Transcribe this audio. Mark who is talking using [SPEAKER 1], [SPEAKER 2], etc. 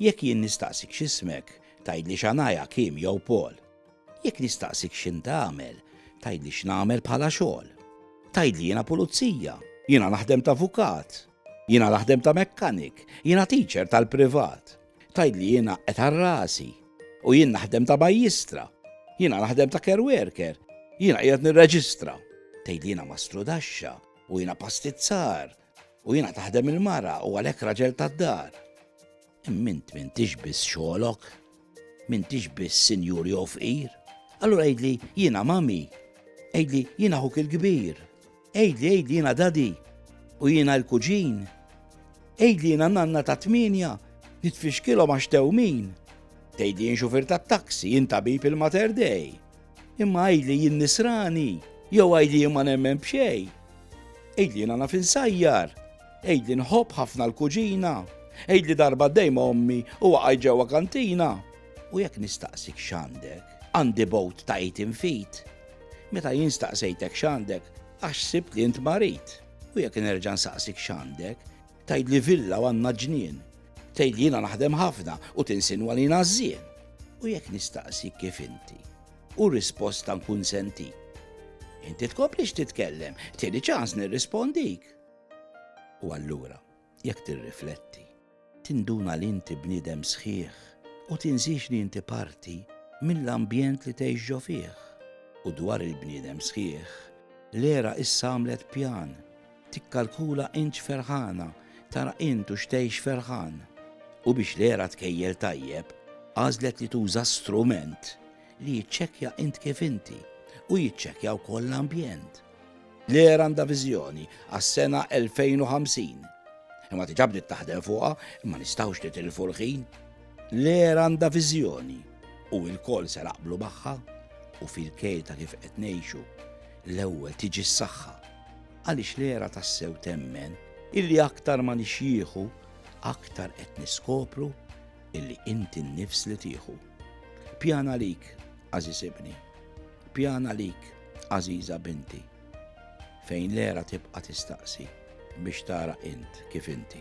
[SPEAKER 1] Jekk jien nistaqsik x'ismek, tgħidli Shania, Kim jew Paul. Jekk nistaqsik x'int tagħmel, tgħidli x'nagħmel bħala xogħol. Tgħidli jiena pulizija, jiena naħdem t'avukat, jiena naħdem ta' mekkanik, jiena teacher tal-privat. Tgħidli jiena qed għal rasi u jien naħdem ta' majjistra, jiena naħdem ta' care worker, jiena qiegħed nirreġistra. Tgħidli jiena mastrudaxxa u jiena pastizzar. U jiena taħdem il-mara u għalhekk raġel tad-dar. Mint mintix biss xogħolok, mintix biss sinjur jew fqir. Allura għidli jiena mami, għidli jiena ħuk il-kbir, għidli għidli jiena dadi u jiena l-kuġin. Għidli jiena nanna ta' tminja, nitfixkilhom għax tewmin. Tgħidli jien xufir tat-taksi, jien tabib il-Mater Dei. Imma għidli jien nisrani, jew għidli jien ma nemmen b'xejn. Għidli jiena naf insajjar, għidli nħobb ħafna l-kuġina, għidli darba dejma ommi u waqgħi ġewwa kantina. U jekk nistaqsik x'għandek, għandi bowt ta' id infit. Meta jien staqsejtek x'għandek, għax sibt li int marid. U jekk nerġa' nsaqsik x'għandek, Tgħidli villa u għandna ġnien. Tgħidli jiena naħdem ħafna u tinsinwa li jiena żżien. U jekk nistaqsik kif inti, u risposta nkun senti. Inti tkomplix titkellem, tieni ċans nirrispondik. U allura, jekk tirrifletti, tinduna li inti bniedem sħiħ u tinżix li inti parti mill-ambjent li tgħixġo fih. U dwar il-bniedem sħiħ, l-era issa għamlet pjan Tikkalkula int x'ferħana, tara int u x'tgħix ferħan. U biex l-għera tkejjel tajjeb, għażlet li tuża strument li jiċċekkja int kif inti u jiċċekkja wkoll l-ambjent. L-għera għandha viżjoni għas-sena 2050. Imma diġà bdiet taħdem fuqha, imma nistgħux nitilfu l-ħin. L-għera għandha viżjoni u l-koll se naqblu magħha u fil-kejl ta' kif qed ngħixu l-ewwel tiġi s-saħħa. Għaliex l-era tassew temmen illi aktar ma nixjieħu, aktar qed niskopru illi inti n-nifs li tieħu. Pjana lik, għażiż ibni, pjana lik, għażiża binti, fejn l-era tibqa' tistaqsi biex tara int kif inti.